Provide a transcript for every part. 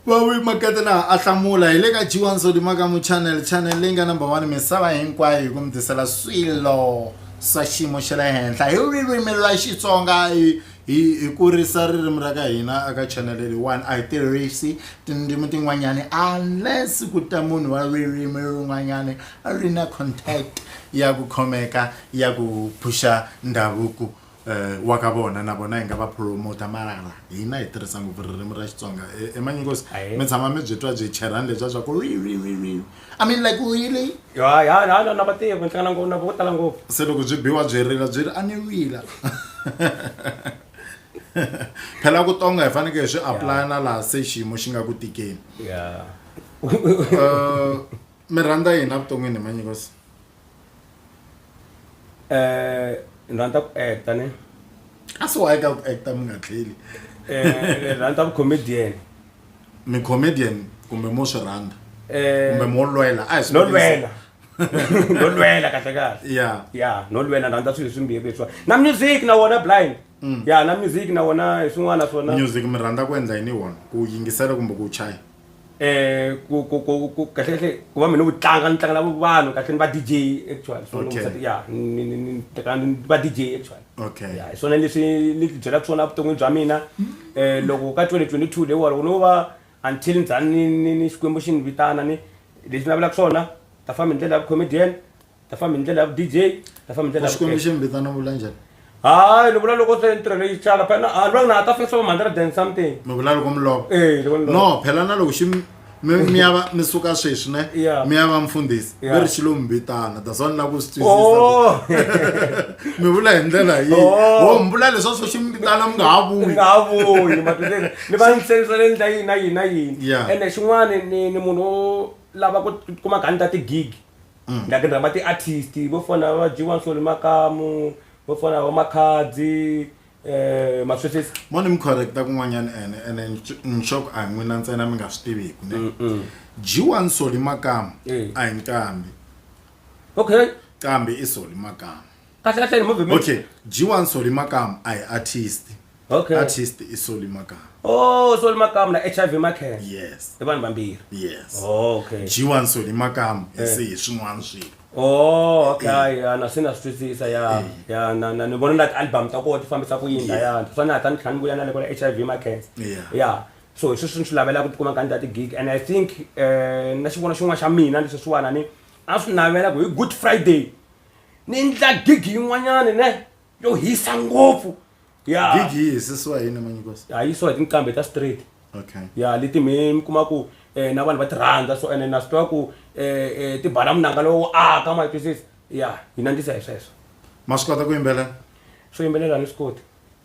vawi makete laha a hlamula hi le ka g1 sodimakamu channel channel leyi nga number one misava hinkwayo hi ku mi tisela swilo swa xiyimo xa le henhla hi ririmi ra xitsonga hi hi kurisa ririmi ra ka hina aka channel leyiwani a hi tirhisi tindzimi tin'wanyani unless ku ta munhu wa ririmi rin'wanyani ri na contact ya ku khomeka ya ku phuxa ndhavuko um wa ka vona na vona hi nga va promoter marara hina hi tirhisa ngopfu ririmi ra xitsonga e, emanyingosi mi tshama mi byi twa byi cherhani lebya bya ku i mean like really ya ya na na vativi ni hlangana ngopfu na vo tala ngopfu se loko byi biwa byi rila byi ri a ni wila phela ku tonga hi fanekele hi swi aplaya na laha se xiyimo xi nga ku tikeni ya um mi rhandza yini evuton'wini hi manyingosi eh ni rhandza ku acta ne a swi wayi ka ku acta mi nga tlheli eh ni rhandza comedian mi comedian kumbe mo swi rhandza eh kumbe mo lwela a hi swi no lwela no lwela kahle kahle ya ya no lwela ni rhandza swilo swimbirhi leswiwa na music na wona blind mm. ya na music na wona hi swin'wana swona music mi rhandza ku endla yini wona ku yingisela kumbe ku chaya eh ku ku ku ku kahle kahle ku va mina ku tlanga ni tlangela vanhu kahle ni va DJ actually so Okay. okay. ya ni ni ni teka ni va DJ actually Okay. ya hi swona leswi ni ti byelaka swona vuton'wini bya mina eh loko ka 2022 leyi walo no va until ni za ni ni ni xikwembu xi ni vitana ni leswi ni navelaka swona ta famba hi ndlela ya comedian ta famba hi ndlela ya vu dj ta famba hi ndlela xikwembu xi mi vitana vula njhani hayi ni vula loko se ntirho leyi tsala phela a lwa na ta fesa mamhandla ra dan something mi vula loko mi lova eh loko ni no phela na loko xi mi ya va mi suka sweswi ne mi ya va mfundhisi mi ri xilo mi vitana that's why ni lava ku swi twisisa oh. mi vula hi ndlela yihi oh. oh, mi vula leswaku swo xi mi vitana mi nga ha vuyi nga ha vuyi matweleni ni va ni hlayisa le ndla yini na yini na yini ene xin'wana ni ni munhu lava ku kuma gani ta tigigi mm. ndza ti rhamba ti-artist vo fana va dyiwa nsoli makamu vo fana va makhadzi um maswesesi mo ni mi correcta kun'wanyana ene ene nxoko a hi n'wina ntsena mi nga swi tiviku ne mm, mm. dyiwa nsoli makamu eh. a hi nqambi okay qambi i soli makamu kahle kahle ni movement okay dyiwa nsoli makamu a hi artist okay artist i soli makama oh soli makama na hiv makhen yes i vanhu vambirhi yes oh, okay g1 soli makama eh. se hi swin'wana swilo oh okay eh. ya na swi na swi twisisa ya eh. ya na na ni vona na ti-album ta koho ti fambisa ku yini layana swa ni hatla ni tlhela ni vuya na le kona hiv makhen ya so hi sweswi ni swi lavela ku tikuma ka ni ta ti-gig and i think um na xivona xin'wana xa mina leswi swiwana ni a swi navela ku hi good friday ni endla gig yin'wanyani ne yo hisa ngopfu ya gig yi hisisiwa hi yini manyikosi a yi swa hi tinqambi ta straight okay ya leti mi mi kuma ku eh, na vanhu va ti rhandza so ene na swi tiva ku eh, eh, ti bala munanga lowu aka ma yi twisisa ya hi nandzisa hi sweswo ma swi kota ku yimbelela swo yimbelela ni swi koti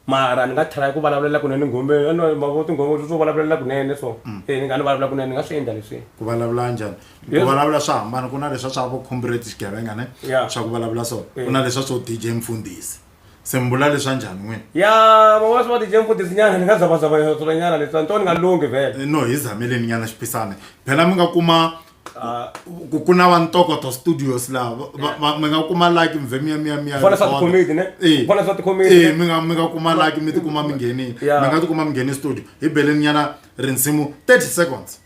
mara ni nga try ku vulavulela kunene nghombeni ano mavo tinghoma swo vulavulela kunene so eh ni nga ni vulavula kunene ni nga swi endla leswi ku vulavula njhani ku Yes. vulavula swa hambana ku na leswa swa vo comrade xigevenga ne Yeah. swa ku vulavula so ku na leswa swo dj mfundhisi se mi vula leswa njhani n'wini ya van'wana swi va tije mfundhisinyana ni nga zavazava yosonyana leswi anto ni nga lunghi vhele no hi zameleni nyana xipisane phela mi nga kuma ku ku na va ntokoto studios laha va- va- va- mi nga kuma laki mve miya miya miya Vona swa tikhomedi, ne? Eh. Vona swa tikhomedi, Eh, ne? mi nga mi nga kuma laki mi tikuma mi nghenile Yeah. mi nga tikuma mi nghene studio hi beleni nyana rinsimu 30 seconds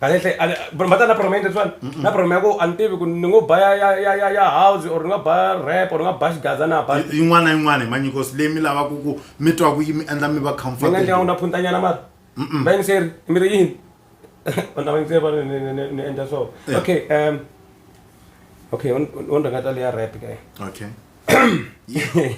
kahlekahle mhata na problem leswiwani na problem ya ku a ni tivi ku ni ngo ba ya ya ya ya ya house or ni nga ba rap or ni nga ba xigaza na ba Yi- yin'wana na yin'wana hi manyikosi leyi mi lavaka ku mi twa ku yi mi endla mi va ni nga ndlela comfortable unga phuntanyana mara va yingiseri mi ri yini vanhu lava yingiseri va ri ni- ni- ni- ni endla so Yeah. okay um okay on rhangata leya rap kae okay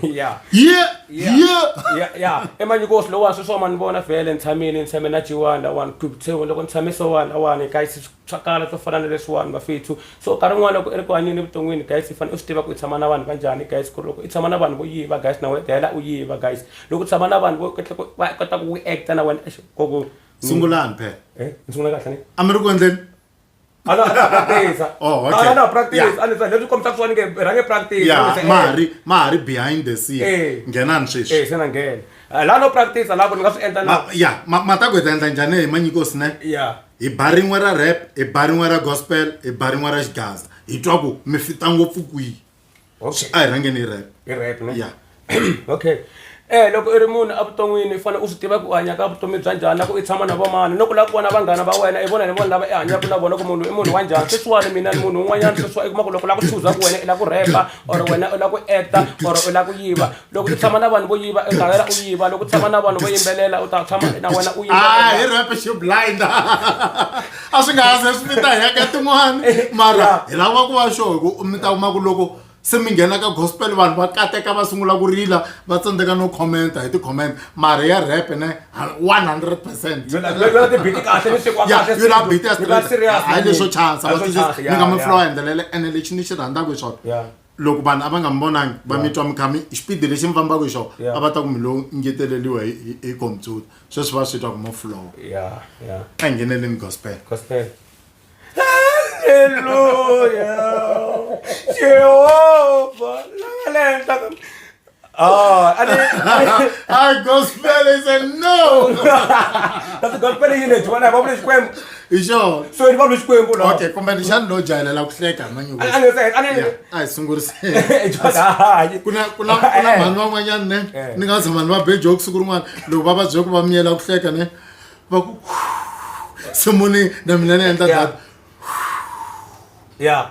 ya yeah yeah ya emanyikosi lowani sweswo ma ni vona vhele ni tshamile ni tshame na jiwani lawani kutsewu loko ni tshame swowani lawani gayisi swa kala swo fana na leswiwani mafethu so nkarhi wun'wana loko i ri ku hanyeni evuton'wini gayisi i fanele u swi tiva ku i tshama na vanhu va njhani gayisi ku ri loko i tshama na vanhu vo yiva gayisi na wena dayela u yiva gayisi loko u tshama na vanhu vo kahle ku va kota ku wu acta na wena exikoku sungulani phela ni sungula kahle ni a mi ri ku endleni a na ha practice Oh, okay. a na ha practice Yeah. a ni sa leswi kombisa swani ke rhange practice ya Kombisa, eh, ma ha ri ma ha ri behind the Eh. scene nghenani sweswi eh se na nghena Ah, la no practice la ku ni nga swi endla na Ma- ya ma- matagweta endla njhani hi manyiko sine ya hi ba rin'we ra rap hi ba rin'we ra gospel hi ba rin'we ra xigaza hi twa ku mi fita ngopfu kwihi okay a hi rhangeni hi rap hi rap ne ya okay Eh loko i ri munhu evuton'wini i fanele u swi tiva ku u hanya ka vutomi bya njhani na ku i tshama na vamani no ku lava ku vona vanghana va wena i vona ni vona lava i hanyaka na vona ku munhu i munhu wa njhani sweswiwani mina ni munhu un'wanyana sweswiwa i kuma ku loko u lava ku chuza ku wena i lava ku rhepa or wena u lava ku acta or u lava ku yiva loko u tshama na vanhu vo yiva u ta hela u yiva loko u tshama na vanhu vo yimbelela u ta tshama na wena u ah, hi rap xi blind a swi nga ha ze swi mi ta heka tin'wana eh, mara hi lava ku va xo hi ku mi ta kuma ku loko se mi nghena ka gospel vanhu va kateka va sungula ku rila va tsandzeka no commenta hi ti-comment mara ya rap ne one hundred percentbitikahlenisikwahayi leswo chansa ni nga mi flowa hi ndlela le ene lexi ni xi rhandzaka hi swona loko vanhu a va nga mi vonangi va mi twa mikhami xipidi lexi mi fambaka hi xona Yeah. a va ta ku mi lo ngeteleriwa hi- hi hi computer sweswi va swi twa ku mo flowa ya ya a hi ngheneleni gospel gospel haleluya jehova la nga le henhla ka Oh, I didn't. I gospel said no. That's a gospel in it. When I publish poem. You sure? So you publish poem. Okay, competition no jala la kuhleka manje. I know say, I know. Ai sungurise. Kuna kuna kuna manu van'wanyana ne. Eh. Ni nga ze manu va be joke siku rin'wana loko va va bye ku va miyela kuhleka ne. Va ku simuni na mina ni endla that. Yeah.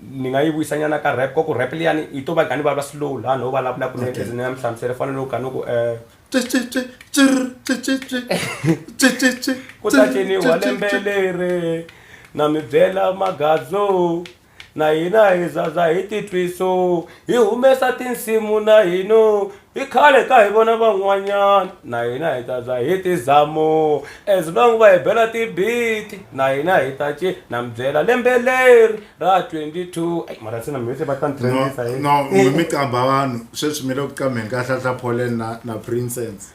ni nga yi vuyisa nyana ka rap ka ku rap liyani yi to va gani va va slow laha no vulavula kunene as ni ya mi hlamusela fana no gani ku ku ta ciniwa lembe leri na mi byela magadzo na hina hi zaza hi titwiso hi humesa tinsimu na hino I khale ka hi vona van'wanyana na hina hi ta za hi ti zamo as long va hi bela ti-beat na hina hi ta ci na mi byela lembe leri ra 22 ayi mara se na mivise va ta ni no trendisa hi no mi mi qamba vanhu sweswi mi le ku qambeni ka hlahla polen na na princess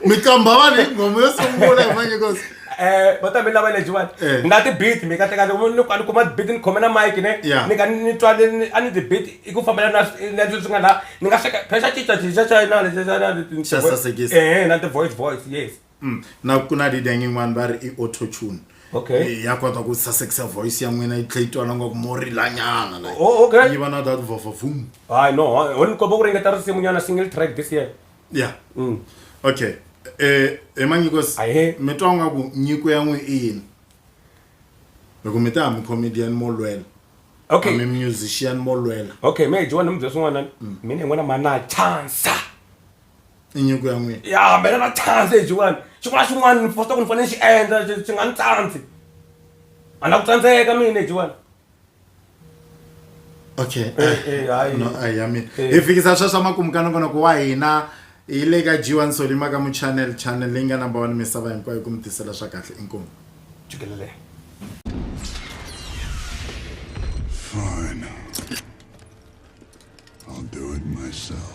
mi qamba vanhu hi ngoma yo sungula hi manyekos Eh, bota mi lava leji vana Eh. nga ti beat mi kahle kahle ni ni kuma beat ni khome na mic ne Yeah. ni ka ni twa ni- ni- a ni ti beat i ku fambela na swi- na leswi nga la ni nga hleka phela xa cinca cinca xa na lexi xa na lexi- Xa sasekisa. eh na ti voice voice yes Mm. na ku na leader yin'wana va ri i autotune Okay. Eh, ya kota ku sasekisa voice ya n'wina yi tlhe yi twana ngaku mo rilanyana like. Oh, okay. yi va na that vavavum hayi no ho ni komba ku ringeta risimu nyana single track this year ya mm. okay eh, emanyikos mi twa nga ku nyiko ya n'wi i yini loko mi ta hami comedian mo lwela okay. ami musician mo lwela okay me jiwa ni mubyesi n'wana mm. mina n'wana ma na chansa i nyiko ya n'wina ya mina na chansa hi jiwani xin'wana xin'wana ni fosta ku ni fanele ni xi endla xi nga ni tsandzi a na ku tsandzeka mina jiwani okay eh, eh, eh, no a ya mina hi fikisa sweswo makumu ka nongonoko wa hina hi le ka jiwa nsoli maka mu channel channel leyi nga number one misava hinkwayo ku mi tisela swa kahle inkomu jikelele Fine. I'll do it myself.